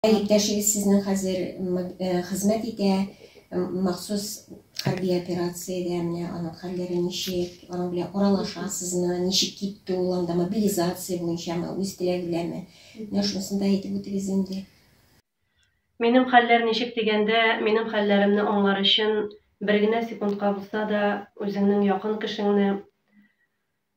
Ә иптәшегез сезнең хәзер хезмәт итә, махсус хәрби операциядә, менә аның хәлләре ничек, аның белән аралашасызмы, ничек китте ул анда, мобилизация буенчамы, үз теләге беләнме? Менә шунысын да әйтеп үтегез инде. Минем хәлләр ничек дигәндә, минем хәлләремне аңлар өчен бер генә секундка булса да үзеңнең якын кешеңне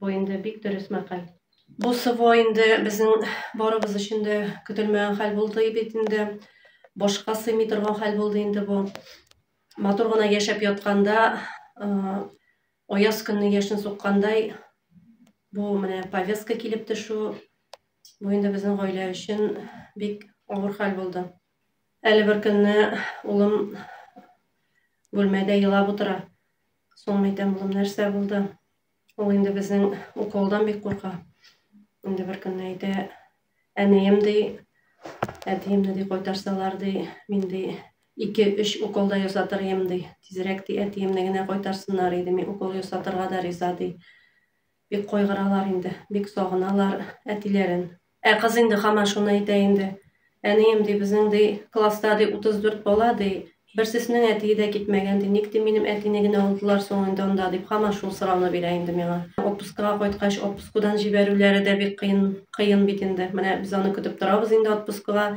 Бу инде бик дөрес мәкаль. Бу СВО инде безнең барыбыз өчен дә көтелмәгән хәл булды бит инде. Башка сыймый торган хәл булды инде бу. Матур гына яшәп ятканда, аяз көнне яшен суккандай, бу менә повестка килеп төшү, бу инде безнең гаилә өчен бик авыр хәл булды. Әле бер көнне улым бүлмәдә елап утыра. Соң әйтәм, улым, нәрсә булды? Ул инде безнең уколдан бик курка. Инде бер көнне әйтә, әнием ди, әтиемне ди кайтарсалар ди, мин ди ике өч уколда ясатыр идем ди. Тизрәк ди әтиемне генә кайтарсыннар иде, мин укол ясатырга да риза ди. Бик кайгыралар инде, бик сагыналар әтиләрен. Ә кыз инде хаман шуны әйтә инде. Әнием, ди, безнең, ди, класста, ди, 34 бала, ди, берсеснең әтие дә китмәгән, ди, ник, ди, минем әтине генә алдылар соң инде анда, дип хаман шул сорауны бирә инде миңа. Отпускага кайткач, отпускудан җибәрүләре дә бик кыен, кыен бит инде. Менә без аны көтеп торабыз инде отпускага,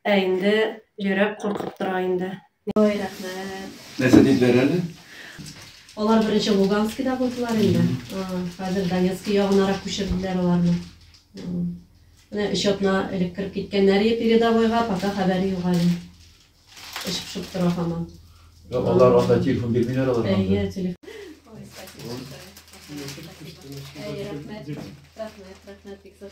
ә инде йөрәк куркып тора инде. Ой, рәхмәт. Нәрсә диделәр әле? Алар беренче Луганскида булдылар инде. Хәзер Донецк ягынарак күчерделәр аларны. Менә өч атна элек кереп киткәннәр передовойга, пока хәбәре юк әле. Эш пешеп тора һаман. Алар анда телефон бирмиләр алар. Әйе, телефон. Ой, спасибо. Рәхмәт, рәхмәт, рәхмәт, бик зур.